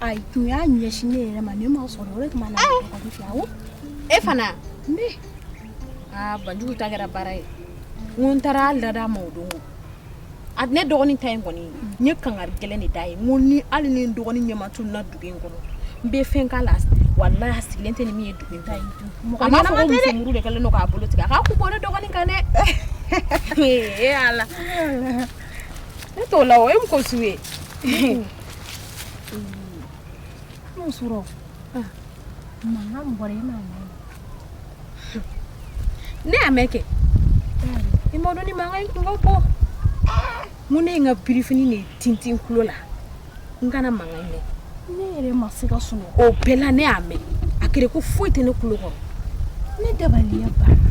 ayi tun y'a ɲɛsin ne yɛrɛ ma ne ma sɔrɔ o de tuma na bagaji fiyewu e fana ne aa banjugu ta kɛra baara ye n ko n taara lada ma o don a ne dɔgɔnin ta in kɔni n ye kangari gɛlɛn de da ye n ko ni hali ni n dɔgɔnin ɲɛma tununa dugu in kɔnɔ n bɛ fɛn k'a la walahi a sigilen tɛ ni min ye dugu in ta ye a ma fɔ ko muso muru de kɛlen don k'a bolo tigɛ a k'a kun bɔ ne dɔgɔnin kan dɛ ee ala ne t'o la o e mun ko su ye N'o surɔ mankan bɔra e m'a mɛn ne y'a mɛn kɛ i m'a dɔn ni mankan ye kungo bɔ mun ne ye n ka birifini de tintin kulo la n kana mankan mɛn ne yɛrɛ ma se ka sunɔgɔ o bɛɛ la ne y'a mɛn a kɛra ko foyi tɛ ne kulo kɔrɔ ne dabaliya banna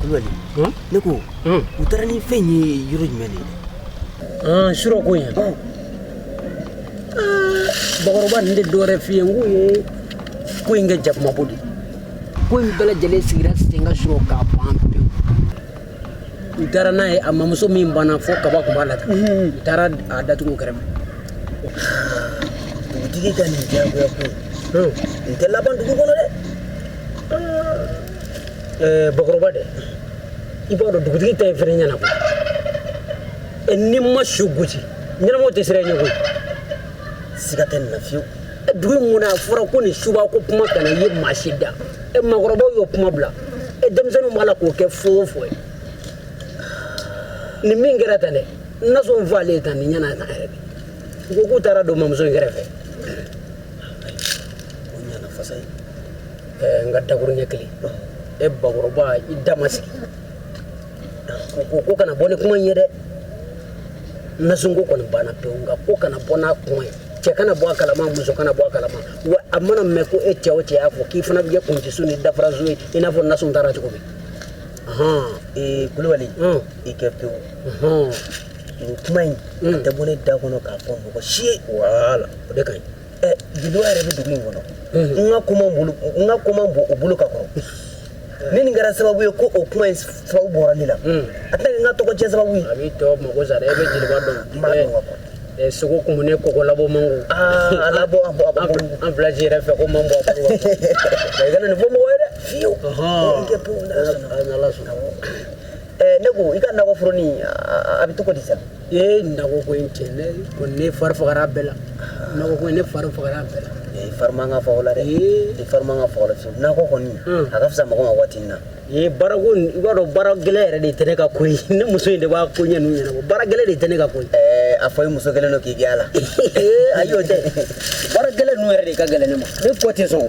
kulubali ne ko u taara ni fɛn ye yɔrɔ jumɛn de surɔ ko yan bakɔrɔba n tɛ dɔwɛrɛ f'i ye n ko ye ko in kɛ jakumabo de ko in bɛɛ lajɛlen sigira sen kan surɔ k'a ban pewu u taara n'a ye a mamuso min banna fo kaba tun b'a la tan u taara a datugu o kɛrɛfɛ dugutigi ka nin diyagoya ko nin tɛ laban dugu kɔnɔ dɛ bakɔrɔba dɛ i b'a dɔn dugutigi ta ye fɛɛrɛ ɲɛna ko n'i ma su gosi ɲɛnamaw tɛ siran i ɲɛ koyi siga tɛ nin na fiyewu dugu mun na a fɔra ko nin suba ko kuma kana ye maa si da e makɔrɔbaw y'o kuma bila e denmisɛnninw b'a la k'o kɛ fɔ o fɔ ye nin min kɛra tan dɛ nasun faalen tan nin ɲɛna tan yɛrɛ de u ko k'u taara a don mamuso in kɛrɛfɛ n ka dakuruɲɛ kelen e bakɔrɔba i da ma sigi u ko ko kana bɔ ni kuma in ye dɛ nasunko kɔni banna pewu nka ko kana bɔ n'a kuma ye cɛ kana bɔ a kalama muso kana bɔ a kalama wa a mana mɛn ko e cɛ o cɛ y'a fɔ k'i fana bɛ kɛ kuncisu ni dafarasu ye i n'a fɔ nasun taara cogo min ee kulubali i kɛ pewu nin kuma in a tɛ bɔ ne da kɔnɔ k'a fɔ mɔgɔ si ye wala o de ka ɲi Jeliba yɛrɛ bɛ dugu in kɔnɔ n ka kuma n ka kuma bɔ o bolo ka kɔrɔ ni nin kɛra sababu ye ko o kuma sababu bɔra ne la a tɛ n ka tɔgɔ cɛn sababu a bɛ to mɔgɔ sa e bɛ jeliba dɔn sogo kun ne kɔ labɔ man ala bɔ an fila yɛrɛ fɛ ko man bɔ fɔ mɔgɔ ye dɛ fiyewu ne ko i ka naoro a bɛ to di sa Ee na ko in cɛ ne ko ne fari fagara bɛɛ la ko ne fari fagara bɛɛ la ee fari man kan ka faga a la dɛ ee i fari man kan ka faga a la na ko kɔni a ka fisa mɔgɔ ma waati na ee bara b'a dɔn baara gɛlɛn yɛrɛ de tɛ ne ka ko ne muso in de b'a ko ɲɛ ɲɛna baara gɛlɛn de tɛ ne ka ko ɛɛ a fɔ i muso kelen don k'i gɛn la ee a y'o tɛ baara gɛlɛn ninnu yɛrɛ de ka gɛlɛn ne ma ne ko tɛ sɔn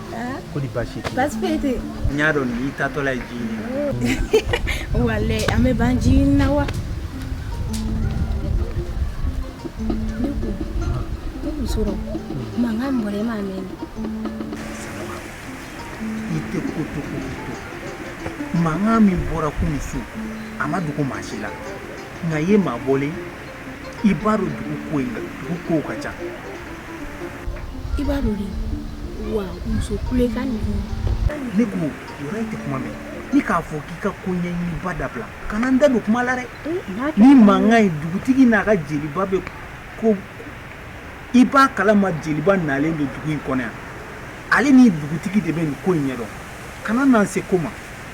ko di basi basi foyi tɛ n y'a dɔn n'i taatɔla ye ji ɲini wale an bɛ ban ji ɲini na wa ne ko surɔ mankan bɔra e m'a mɛn i tɛ ko to ko to mankan min bɔra kunun su a ma dogo maa si la nka i ye maa bɔlen i b'a dɔn dugu ko in na dugu kow ka ca i b'a dɔn de wa muso kulekan ninnu ne ko yɔrɔ in tɛ kuma mɛn ni k'a fɔ k'i ka ko ɲɛɲiniba dabila kana n da don kuma la dɛ ni mankan ye dugutigi n'a ka jeliba bɛ ko i b'a kalama jeliba nalen don dugu in kɔnɔ yan ale ni dugutigi de bɛ nin ko in ɲɛ dɔn kana na n se ko ma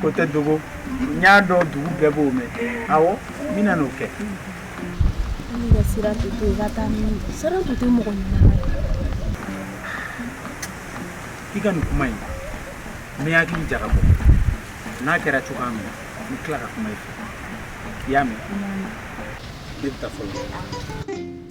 ko tɛ dogo n y'a dɔn dugu bɛɛ b'o mɛn awɔ n bɛna n'o kɛ siran tɛ to i ka taa siran tɛ to mɔgɔ i ka nin kuma in n bɛ hakili jagabɔ n'a kɛra cogoya min na n bɛ tila ka kuma i fɛ i y'a mɛn ne bɛ taa fɔlɔ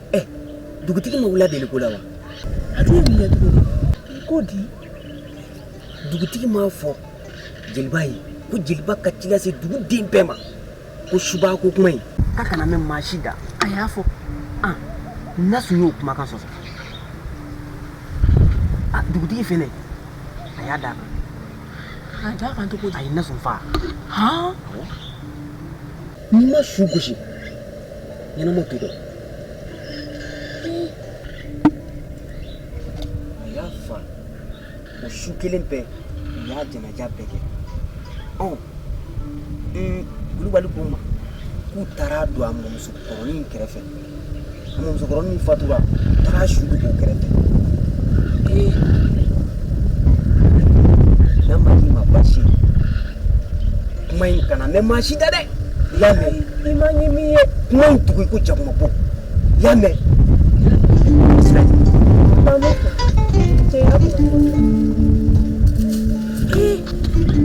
Eh, dugutigi ma wul'a deliko la wa a tun ye mun kɛ tuguni ko di dugutigi m'a fɔ jeliba ye ko jeliba ka ci lase duguden bɛɛ ma ko suba ko kuma in k'a kana mɛn maa si da a y'a fɔ nasu y'o kumakan sɔsɔ a dugutigi fɛnɛ a y'a d'a kan a d'a kan cogo di a ye nasu faa han N'i ma su gosi ɲɛnama t'o dɔn. A y'a fa o su kelen bɛɛ u y'a janaja bɛɛ kɛ ɔ kulubali ko ma k'u taar'a don a mɔmusokɔrɔnin kɛrɛfɛ musokɔrɔnin fatura taara su don o kɛrɛfɛ ee n'a ma k'i ma basi ye kuma in kana mɛn maa si da dɛ i y'a mɛn i ma ɲi min ye kuma in tugu i ko jakumabo i y'a mɛn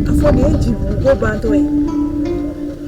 a fɔ nin ye jibugu ko bantɔ ye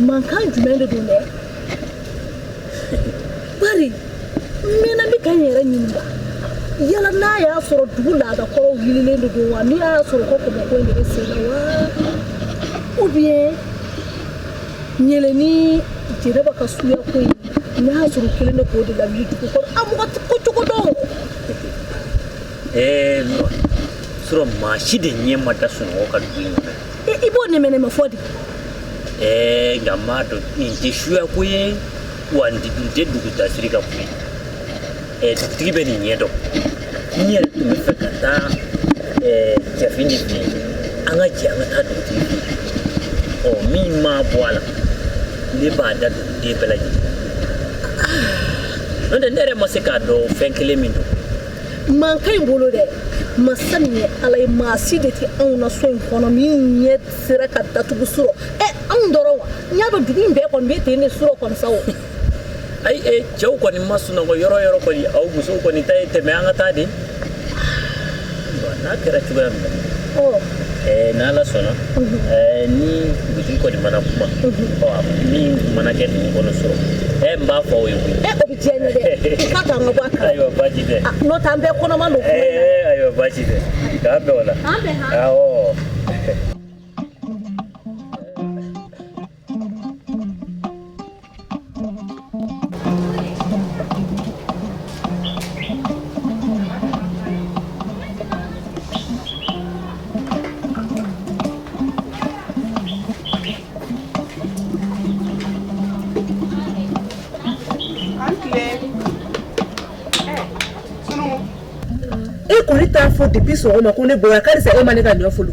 mankan jumɛn de don dɛ bari n mɛnna n bɛ ka n yɛrɛ ɲininka yala n'a y'a sɔrɔ dugu laadakɔrɔw wililen de don wa n'a y'a sɔrɔ ko kɔmɔko in de bɛ sen na wa ou bien ɲele ni jɛnɛba ka suya ko in n'a y'a sɔrɔ u kelen de k'o de lawuli dugu kɔnɔ a mɔgɔ tɛ ko cogo dɔn ɛɛ surɔ maa si de ɲɛ ma da sunɔgɔ kan dugu in kɔnɔ i b'o nɛmɛnɛmɛ fɔ de ɛɛ nka n m'a dɔn nin tɛ suya ko ye wa nin tɛ dugu dasiri ka ko ye ɛɛ dugutigi bɛ nin ɲɛ dɔn n yɛrɛ tun bɛ fɛ ka taa ɛɛ jafin de fɛ yen an ka jɛ an ka taa dugutigi fɛ yen ɔ min ma bɔ a la ne b'a da duguden bɛɛ lajɛlen n'o tɛ ne yɛrɛ ma se k'a dɔn fɛn kelen min don mankan in bolo dɛ masa min ye ala ye maa si de tɛ anw na so in kɔnɔ min ɲɛ sera ka datugu surɔ ɛ anw dɔrɔn wa n y'a dɔn dugu in bɛɛ kɔni bɛ ten de surɔ kɔni sa o ayi e cɛw kɔni ma sunɔgɔ yɔrɔ yɔrɔ kɔni aw musow kɔni ta ye tɛmɛ an ka taa de n'a kɛra cogoya min na Eh, ni ala sɔnna eh, ni dugutigi kɔni mana kuma min mana kɛ dugu kɔnɔ surɔ eh, n b'a fɔ o ye ayiwa baasi tɛ ah, n'o tɛ an bɛɛ kɔnɔma don ayiwa baasi tɛ k'an bɛn o la awɔ fɔ depuis sɔgɔma ko ne bonya k'ale sa e ma ne ka ɲɔ folo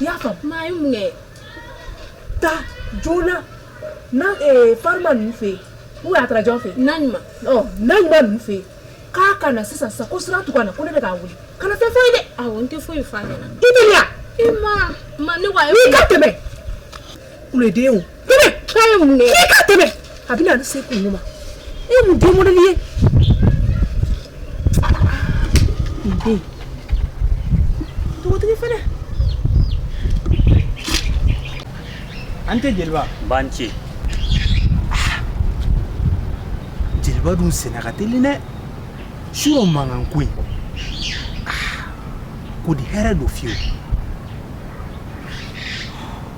i y'a faamu, mais a ye mun kɛ? Taa joona na ee Farima ninnu fɛ yen ou bien a taara jɔn fɛ yen? Naɲuman, ɔ Naɲuman ninnu fɛ yen, k'a ka na sisan sisan ko sira tugu a la ko ne bɛ k'a wele, kana fɛn fɔ a ye dɛ, awɔ n tɛ foyi fɔ a ɲɛna, i tɛ mɛn wa, i ma, ma ne ko a ye mun kɛ, n'i ka tɛmɛ kulo den o tɛmɛ k'a ye mun kɛ k'i ka tɛmɛ a bɛ na ni se kun ma e ye mun den mɔdɛli ye nin den dugutigi fana a ni ce jeliba nba a ni ce jeliba dun senna ka teli dɛ surɔ mankan ko in ko di hɛrɛ don fiyewu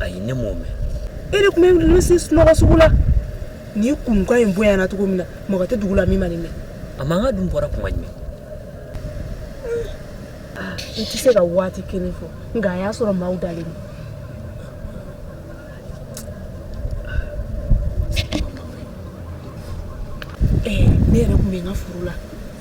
ayi ne m'o mɛn e yɛrɛ tun bɛ ninnu si sunɔgɔ sugu la ni kunkan in bonyana cogo min na mɔgɔ tɛ dugu la min ma nin mɛn a mankan dun bɔra kuma jumɛn n tɛ se ka waati kelen fɔ nka a y'a sɔrɔ maaw dalen don ne yɛrɛ tun bɛ n ka furu la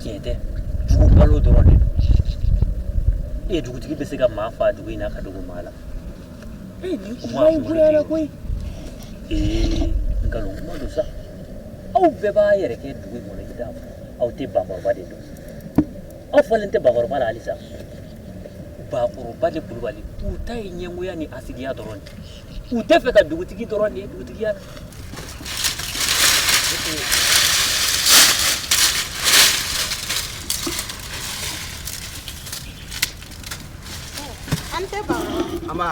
jɛtɛ jugu balo dɔrɔn de e ye dugutigi bɛ se ka maa faa dugu in na ka dogo maa la ee nin kuma in goyara koyi ee nkalon kuma don sa aw bɛɛ b'a yɛrɛ kɛ dugu in kɔnɔ i t'a fɔ aw tɛ bakɔrɔba de dɔn aw fɔlen tɛ bakɔrɔba la halisa bakɔrɔba de kulubali u ta ye ɲɛngoya ni hasidiya dɔrɔn de u tɛ fɛ ka dugutigi dɔrɔn de ye dugutigiya An tɛ ban wa? An ba.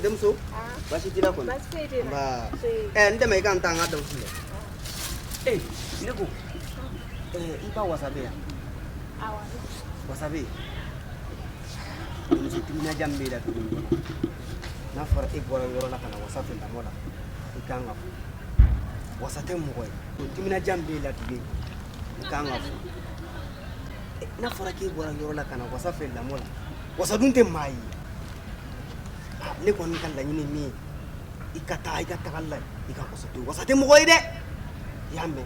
Denmuso. Aa. Basi t'i la kɔni? Basi foyi t'i la. An ba. Se. Ɛ n dɛmɛ i ka n ta n ka dɔnkili filɛ. Ee ne ko. Ɛɛ i ba wasa bɛ yan? Awɔ. Wasa bɛ yen? Timinadiya min b'e la dugu in kɔnɔ n'a fɔra e bɔra yɔrɔ la ka na wasa fɛ lamɔ la i ka kan ka fo wasa tɛ mɔgɔ ye o timinadiya min b'e la dugu in kɔnɔ i ka kan ka fo n'a fɔra k'e bɔra yɔrɔ la ka na wasa fɛ lamɔ la wasa dun tɛ maa ye ne kɔni ka laɲini min ye i ka taa i ka taga la i ka wasa to wasa tɛ mɔgɔ ye dɛ i y'a mɛn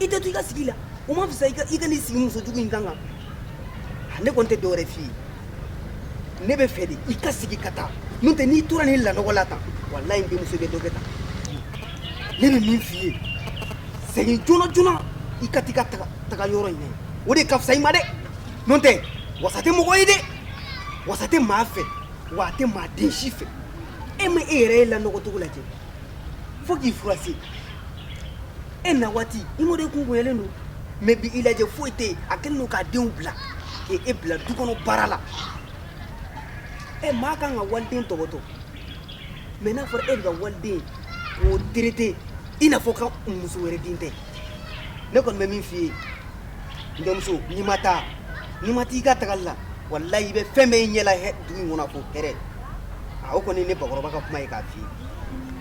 i tɛ to i ka sigi la o ma fisa i ka n'i sigi muso jugu in kan kan ne kɔni tɛ dɔwɛrɛ f'i ye ne b'a fɛ de i ka segin ka taa n'o tɛ n'i tora nin lanɔgɔ la tan walayi n denmuso bɛ dɔ kɛ tan ne bɛ min f'i ye segin joona joona i ka t'i ka taga yɔrɔ in na o de ka fisa i ma dɛ n'o tɛ wasa tɛ mɔgɔ ye dɛ wasa tɛ maa fɛ wa a tɛ maa den si fɛ e ma e yɛrɛ ye lanɔgɔ cogo lajɛ fo k'i furase e na waati i m'o de kun bonyalen don mɛ bi i lajɛ foyi tɛ yen a kɛlen don k'a denw bila k'e e bila du kɔnɔ baara la ɛ maa kan ka waliden tɔpɔtɔ mɛ n'a fɔra e bɛ ka waliden k'o terete i n'a fɔ ka muso wɛrɛ den tɛ ne kɔni bɛ min f'i ye n denmuso n'i ma taa n'i ma t'i ka tagali la walayi i bɛ fɛn bɛɛ y'i ɲɛ la dugu in kɔnɔ fo hɛrɛ a o kɔni ne bakɔrɔba ka kuma ye k'a f'i ye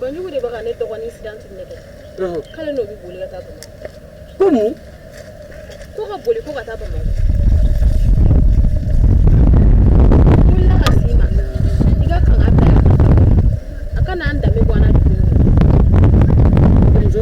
Banjugu de bɛ ka ne dɔgɔnin Sirantu nɛgɛn k'ale n'o bɛ boli ka taa Bamakɔ ko mun ko ka boli ko ka taa Bamakɔ n wulila ka s'i ma i ka kan k'a bila yan a kana an danbe bɔ an na dugu in kɔnɔ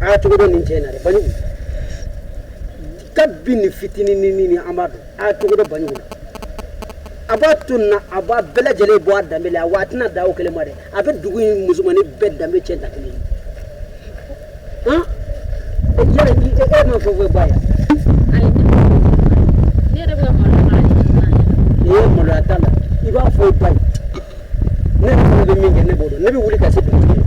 aa cogo dɔ nin cɛ in na dɛ banjugu kabini fitinin ni ni an b'a dɔn aa cogo dɔ banjugu la a b'a to nin na a b'a bɛɛ lajɛlen bɔ a danbe la wa a tɛna dan o kelen ma dɛ a bɛ dugu in musomannin bɛɛ danbe cɛn da kelen ye han yala i e e m'a fɔ ko ba ye ayi ne yɛrɛ bɛ ka maloya k'a ɲɛ sisan yɛrɛ. nin ye maloya t'a la i b'a fɔ i ba ye ne yɛrɛ fana bɛ min kɛ ne b'o dɔn ne bɛ wuli ka se dugutigi ma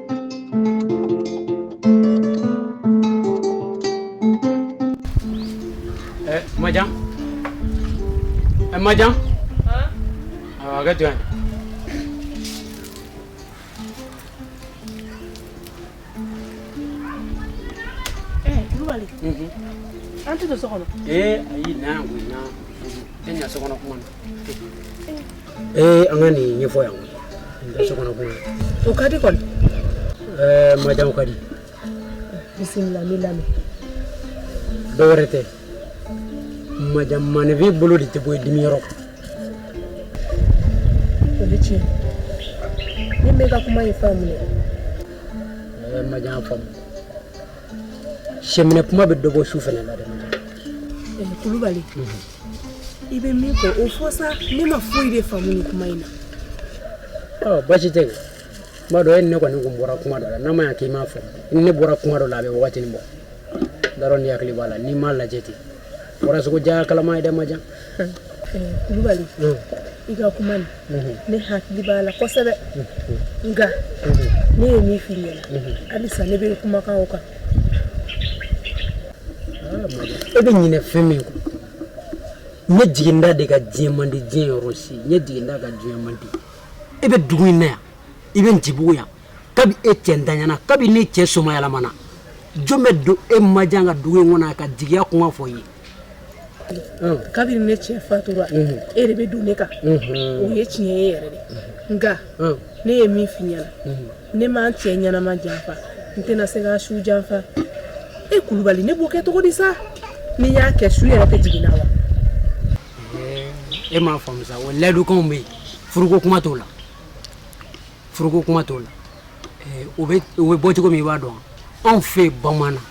Majan eh, Majan ah, a ka jɔn Kulubali an tɛ don so kɔnɔ ee ayi na yan koyi na e ɲa so kɔnɔ kuma na ee an ka nin ɲɛfɔ yan koyi nin tɛ so kɔnɔ kuma ye o ka di kɔni ɛɛ majan o ka di bisimila n b'i lamɛn dɔ wɛrɛ tɛ majan maaninfin bolo de tɛ bɔ i dimi yɔrɔ kan o bɛ tiɲɛ ne m'i ka kuma in faamu dɛ ɛɛ majan faamu sɛminɛ kuma bɛ dɔ bɔ su fana la dɛ majan ɛɛ kulubali i bɛ min fɔ o fɔ sa ne ma foyi de faamu nin kuma in na ɔ basi tɛ kuma dɔ e ni ne kɔni tun bɔra kuma dɔ la n'a ma ɲɛ k'i m'a fɔ i ni ne bɔra kuma dɔ la a bɛ wagatinin bɔ dɔrɔn n'i hakili b'a la n'i m'a lajɛ ten wara sogo diya a kalama ye dɛ majan kulubali i ka kuma nin ne hakili b'a la kosɛbɛ nka ne ye min f'i ɲɛna halisa ne bɛ kumakan o kan e bɛ ɲinɛ fɛn min kɔ ne jigintan de ka diɲɛ man di diɲɛ yɔrɔ si ne jigintan ka diɲɛ man di e bɛ dugu in na yan i bɛ ntibugu yan kabi e cɛ ntanyana kabi ne cɛ somayɛlɛmana jɔn bɛ don e majan kan dugu in kɔnɔ ka jigiya kuma fɔ i ye kabini ne cɛ fatura e de bɛ don ne kan o ye tiɲɛ ye yɛrɛ de nka ne ye min f'i ɲɛna ne ma n cɛ ɲɛnama janfa n tɛna se k'a su janfa e kulubali ne b'o kɛ cogo di sa ni n y'a kɛ su yɛrɛ tɛ jigin n na wa e m'a faamu sa o layidukanw bɛ yen furuko kuma t'o la furuko kuma t'o la u bɛ bɔ cogo min i b'a dɔn anw fɛ bamanan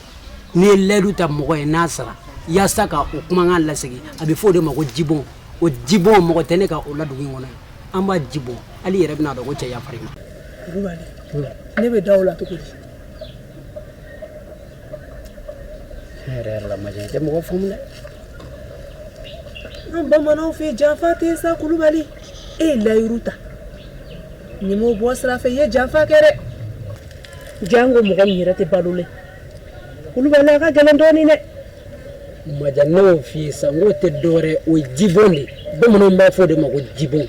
n'i ye layidu ta mɔgɔ ye n'a sara yaasa ka o kumakan lasegin a bɛ fɔ o de ma ko jibɔn o jibɔn mɔgɔ tɛ ne kɔ o la dugu in kɔnɔ an b'a jibɔn hali i yɛrɛ bɛna a dɔn ko cɛ yafara i ma kulubali ne bɛ da o la cogo ne yɛrɛ yɛrɛ la majan tɛ mɔgɔ faamu dɛ an bamananw fɛ janfa tɛ sa kulubali e ye layiru ta n'i m'o bɔ sira fɛ i ye janfa kɛ dɛ janko mɔgɔ min yɛrɛ tɛ balo la kulubali a ka gɛlɛn dɔɔnin dɛ majan ne y'o f'i ye sa n k'o tɛ dɔwɛrɛ o ye jibɔn de ye bamananw b'a fɔ o de ma ko jibɔn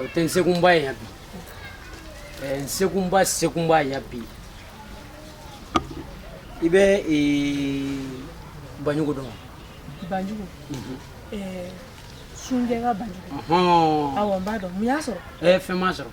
O tɛ n sekunba ye yan bi n sekunba sekunba ye yan bi i bɛ banjugu dɔn banjugu sunjɛ ka banjugu awɔ n b'a dɔn mun y'a sɔrɔ fɛn m'a sɔrɔ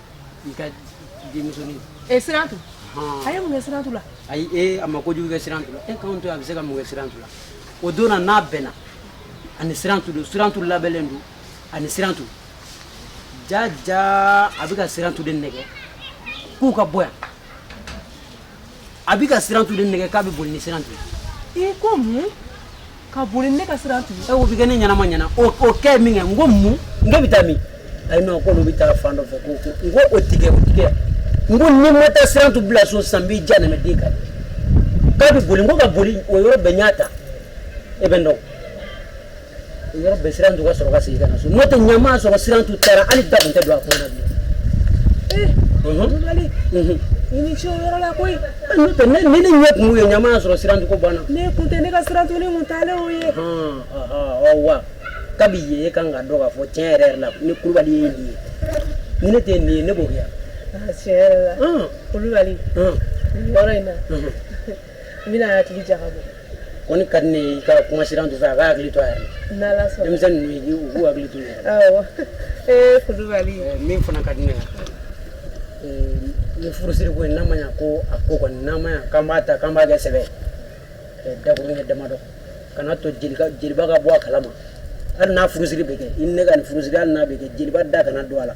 i ka denmusonin e sirantu a ye mun kɛ sirantu la ayi e a ma kojugu kɛ sirantu la e k'anw to a bɛ se ka mun kɛ sirantu la o don na n'a bɛnna ani sirantu don sirantu labɛnnen don ani sirantu jaja a bɛ ka sirantu de nɛgɛ k'u ka bɔ yan a bɛ ka sirantu de nɛgɛ k'a bɛ boli ni sirantu ye i ko mun ka boli ne ka sirantu ye o bɛ kɛ ne ɲɛnama ɲɛna o o kɛ min kɛ n ko mun n k'u bɛ taa min ayi non ko olu bɛ taa fan dɔ fɛ ko ko n ko o tigɛ o tigɛ n ko n'i ma taa sirantu bila so san b'i ja nɛmɛ den kan k'a bɛ boli n ko ka boli o yɔrɔ bɛɛ n y'a ta e bɛ n dɔn yɔrɔ bɛɛ sirantu ka sɔrɔ ka segin ka na so n'o tɛ ɲamaa sɔrɔ sirantu taara hali da tun tɛ don a ko na bilen. i ni ce o yɔrɔ la koyi. n'o tɛ ne ni ne ɲɛ kun ye ɲamaa sɔrɔ sirantu ko banna. ne kun tɛ ne ka sirantunin kun taalen o ye. ɔ wa kabi ye e kan k'a dɔn k'a fɔ tiɲɛ yɛrɛ yɛrɛ la ni kulubali ye nin ye ni ne tɛ nin ye ne b'o kɛ yan. tiɲɛ yɛrɛ la kulubali yɔrɔ in na. n bɛna hakili jagabɔ kɔni ka di ne ye i ka kuma sirantu fɛ a k'a hakili to a yɛrɛ la n'ala sɔnna denmisɛn ninnu ye u k'u hakili to u yɛrɛ la awɔ ee kulubali Eh, min fana ka di ne ye eh, ni furusiri ko in n'a ma ɲa ko a ko kɔni n'a ma ɲa k'an b'a ta k'an b'a kɛ sɛbɛ ye eh, dakurun kɛ damadɔ kana to jeliba jeliba ka bɔ a kalama hali n'a furusiri bɛ kɛ i ni ne ka nin furusiri hali n'a bɛ kɛ jeliba da kana don a la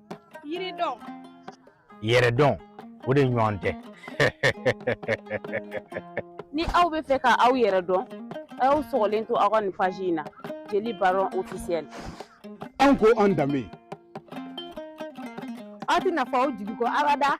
yiri dɔn yɛrɛ dɔn o de ɲɔgɔn tɛ ni aw bɛ fɛ ka aw yɛrɛ dɔn a y'aw sɔgɔlen to aw ka nin page in na jeli baro officiel an ko an danbe aw tɛna fɔ aw jigi kɔ abada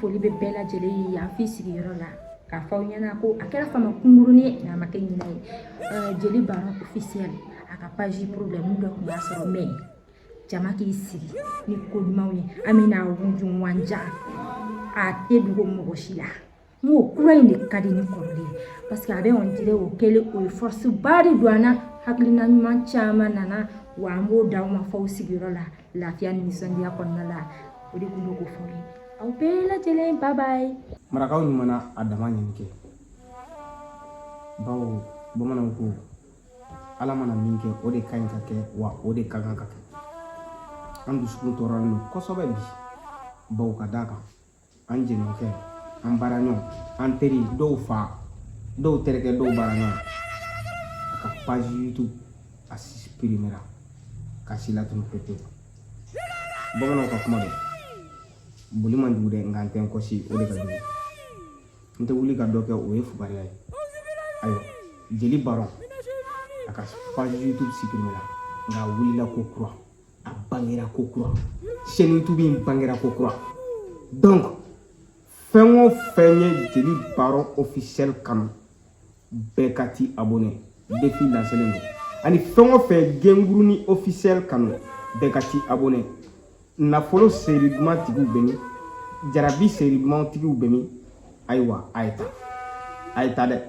foli bɛ bɛɛ lajɛlen ye yan f'i sigiyɔrɔ la k'a fɔ aw ɲɛna ko a kɛra fama kunkurunin ye nka a ma kɛ ɲinɛ ye jeli baro officiel a ka page problème dɔ tun b'a sɔrɔ mais jama k'i sigi ni ko ɲumanw ye an bɛna wunjunwanja a tɛ dogo mɔgɔ si la n ko kura in de ka di ni kɔrɔlen ye parce que a bɛ on dirait o kɛlen o ye force ba de don an na hakilina ɲuman caman nana wa an b'o d'aw ma f'aw sigiyɔrɔ la lafiya ni nisɔndiya kɔnɔna la o de tun bɛ k'o fɔ ye aw bɛɛ lajɛlen bye bye marakaw ɲuman na a dama ɲini kɛ bawo bamananw ko ala mana min kɛ o de ka ɲi ka kɛ wa o de ka kan ka kɛ an dusukun tɔɔrɔlen don kosɛbɛ bi bawo ka d'a kan an jɛɲɔgɔnkɛ an baaraɲɔgɔn an teri dɔw fa dɔw terikɛ dɔw baaraɲɔgɔn a ka page youtube a suprimera k'a si latunu pepewu bamananw ka kuma don boli man jugu dɛ nka n tɛ n kɔsi o de ka jugu n tɛ wuli ka dɔ kɛ o ye fugariya ye ayiwa jeli baron a ka page youtube suprimera nka a wulila ko kura a bangera ko kura chaîne youtube in bangera ko kura donc fɛn o fɛn ye jeli baron officiel kanu bɛɛ ka t'i abonné défi lancelen don ani fɛn o fɛn gengurunin officiel kanu bɛɛ ka t'i abonné nafolo série duman tigiw bɛ min jarabi série duman tigiw bɛ min ayiwa a ye taa a ye taa dɛ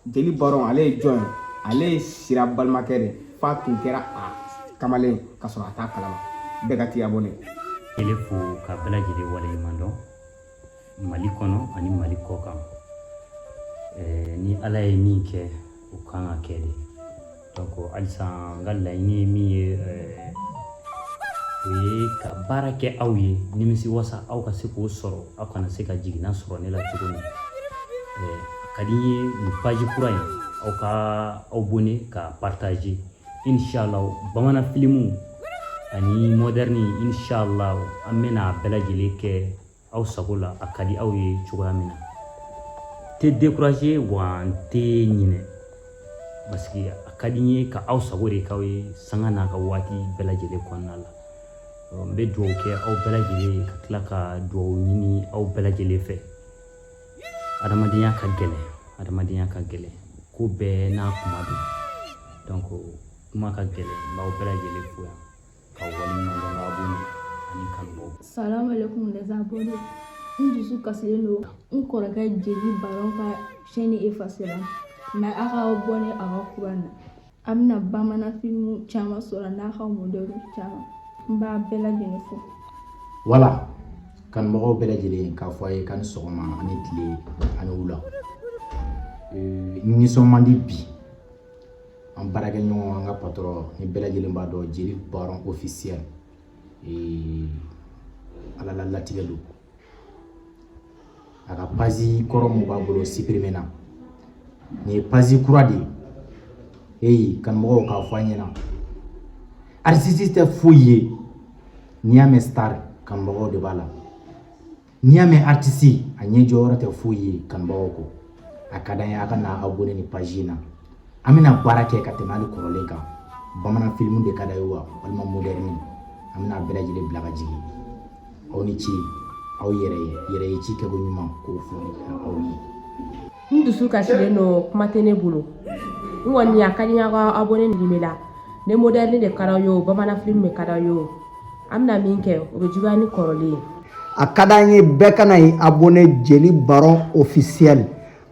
jeli baron ale ye jɔn ye ale ye sira balimakɛ de f'a tun kɛra a kamalen ka sɔrɔ a t'a kalama bɛɛ ka t'i abonné ele fo ka bɛɛ lajɛlen waleɲuman dɔn mali kɔnɔ ani mali kɔ kan ni ala ye min kɛ o kan ka kɛ de halisa n ka laɲini ye min ye o ye ka baara kɛ aw ye nimisiwasa aw ka se k'o sɔrɔ aw kana se ka jiginna sɔrɔ ne la cogo min ka di n ye nin page kura in aw ka aw abonné ka partager inshallah bamanan filimu ani moderne inshallah an bɛna a bɛɛ lajɛlen kɛ aw sago la a ka di aw ye cogoya min na n tɛ décourager wa n tɛ ɲinɛ parce que a ka di n ye ka aw sago de k'aw ye sanga n'a ka waati bɛɛ lajɛlen kɔnɔna la n bɛ dugawu kɛ aw bɛɛ lajɛlen ye ka tila ka dugawu ɲini aw bɛɛ lajɛlen fɛ adamadenya ka gɛlɛn adamadenya ka gɛlɛn ko bɛɛ n'a kuma don donc kuma ka gɛlɛn n b'aw bɛɛ lajɛlen fo yan ka waleɲuman dɔn ka abonné ani kanubaw salam alaikum les abonnés n dusu kasilen don n kɔrɔkɛ jeli baron ka chaîne efasera mais a ka abonné a ka kura na a bɛna bamanan filimu caman sɔrɔ n'a ka moderne caman n b'a bɛɛ lajɛlen fo voilà kanubagaw bɛɛ lajɛlen k'a fɔ a ye k'a ni sɔgɔma a ni tile a ni wula ee, n nisɔn man di bi an baarakɛ ɲɔgɔn an ka patɔrɔn ni bɛɛ lajɛlen b'a dɔn jeli baron ofisiyɛl ala la latigɛ don a ka pazi kɔrɔ mun b'a bolo sipirimena nin ye pazi kura de ye eyi kanumɔgɔw k'a fɔ an ɲɛna aritisi tɛ foyi ye n'i y'a mɛn star kanumɔgɔw de b'a la n'i y'a mɛn aritisi a ɲɛ jɔyɔrɔ tɛ foyi ye kanubagaw kɔ a ka d'an ye a ka na abone nin paji in na an bɛna baara kɛ ka tɛmɛ hali kɔrɔlen kan bamanan filimu de ka d'aw ye wa walima modɛrɛni an bɛna bɛɛ lajɛlen bila ka jigin aw ni ce aw yɛrɛ ye yɛrɛ ye ci kɛko ɲuman k'o fɔ aw ye n dusu kasilen don kuma tɛ ne bolo n kɔni a ka di n ye a ka abonné nin bɛɛ la ni moderne de ka d'aw ye o bamanan film de ka d'aw ye o an bɛna min kɛ o bɛ juguya ni kɔrɔlen ye a ka d'an ye bɛɛ ka na i abonné jeli baron officiel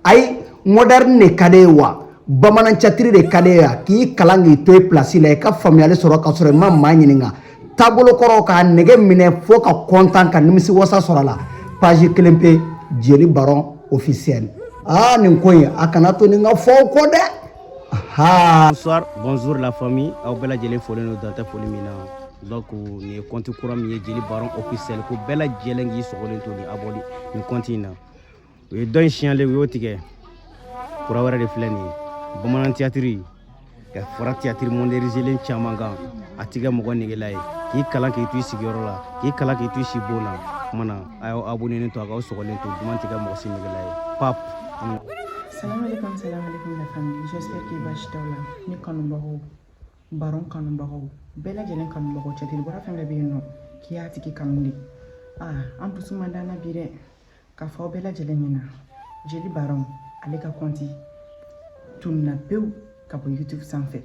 ayi moderne de ka d'e ye wa bamanan catiri de ka d'e ye wa k'i kalan k'i to i place la i ka faamuyali sɔrɔ ka sɔrɔ i ma maa ɲininka taabolo kɔrɔ k'a nege minɛ fo ka kɔntan ka nimisi wasa sɔrɔ a la page kelen pe jeli baron officiel aa nin ko in a kana to nin ka fɔ aw kɔ dɛ bonsoir bonjour la famille aw bɛɛ lajɛlen folen don dan tɛ foli min na donc nin ye kɔnti kura min ye jeli baron officiel ko bɛɛ lajɛlen k'i sɔgɔlen to ni abonné nin kɔnti in na u ye dɔ in siɲale u y'o tigɛ kura wɛrɛ de filɛ nin ye bamanan tiyatiri ka fara tiyatiri modɛrinizelen caman kan a tɛ kɛ mɔgɔ negela ye k'i kalan k'i to i sigiyɔrɔ la k'i kalan k'i to i si bon na kuma na a y'aw abonenen to a k'aw sɔgɔlen to duman tɛ kɛ mɔgɔ si negela ye pap Salam alaikum, salam alaikum la famille. J'espère que basi t'aw la. Ne kanubagaw, baron kanubagaw, bɛɛ lajɛlen kanubagaw, catiri bɔla fɛn bɛɛ bɛ yen nɔ k'i y'a tigi kanu de. Ah, an dusu man d'an na bi dɛ. k'a fɔ aw bɛɛ lajɛlen ɲɛna jeli baron ale ka kɔnti tununna pewu ka bɔ youtube sanfɛ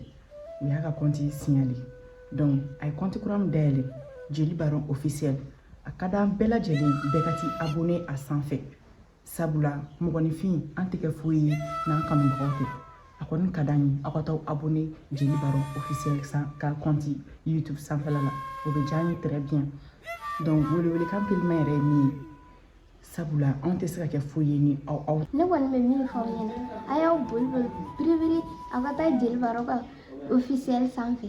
u y'a ka kɔnti siɲale donc a ye kɔnti kura min dayɛlɛ jeli baron officiel a ka d'an bɛɛ lajɛlen bɛɛ ka t'i abone a sanfɛ sabula mɔgɔninfin an tɛ kɛ foyi ye n'an kanubagaw tɛ a kɔni ka d'an ye aw ka t'aw abonné jeli baron officiel ka kɔnti youtube sanfɛla la o bɛ diya an ye très bien donc welewelekan teliman yɛrɛ ye nin ye sabula anw tɛ se ka kɛ foyi ye ni aw aw ne kɔni bɛ min fɔ aw ɲɛna a y'aw boli boli biribiri aw ka taa jeli baron ka officiel sanfɛ